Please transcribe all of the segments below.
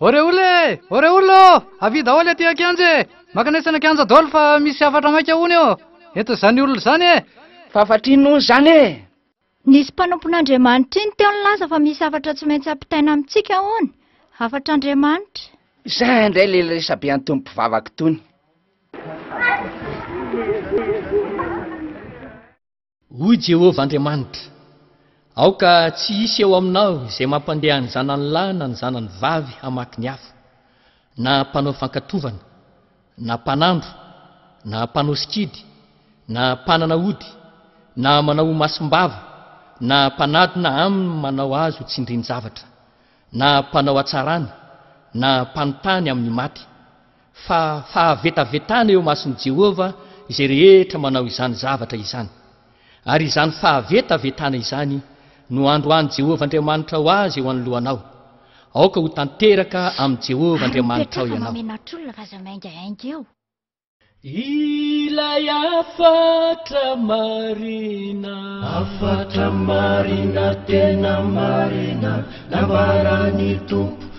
Oreoul e! Oreoul ô! Avia daholo aty an-kianja e! Maka anay tsaina kianja daholo fa misy hafatra maika hono eo! Eto izany olona izany e! Fa hafatra inona hono izany e! Nisy mpanompon'Andriamanitra iny teo nilaza fa misy hafatra tsy maintsy hampitaina amintsika hono! Hafatr'Andriamanitra! Izay indray ilay resabe an'itony mpivavaka itony! Hoy Jehovah Andriamanitra, Aoka tsy hisy eo aminao izay mampandeha ny zanany lahy na ny zanany vavy hamaky ny afo, na mpanao fankatovana, na mpanandro, na mpanao sikidy, na mpanana ody, na manao ho masim-bava, na mpanadina aminy manao azy ho tsindrin-javatra, na mpanao hatsarana, na mpanontany amin'ny maty. fa fahavetavetana eo imason'i Jehovah izay rehetra manao izany zavatra izany, ary izany fahavetavetana izany no androahan'i Jehovah Andriamanitra ho azy eo anoloanao. Aoka ho tanteraka amin'i Jehovah Ary Andriamanitrao mipetraka ianao. mamenatr'olona fa aza maingainga eo. Ilay hafatra marina. Hafatra marina tena marina nambaran'ny Tompo.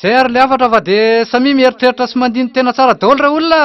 Zay ary le hafatra fa de samia mieritreritra sy mandini tena tsara daolo reo olona!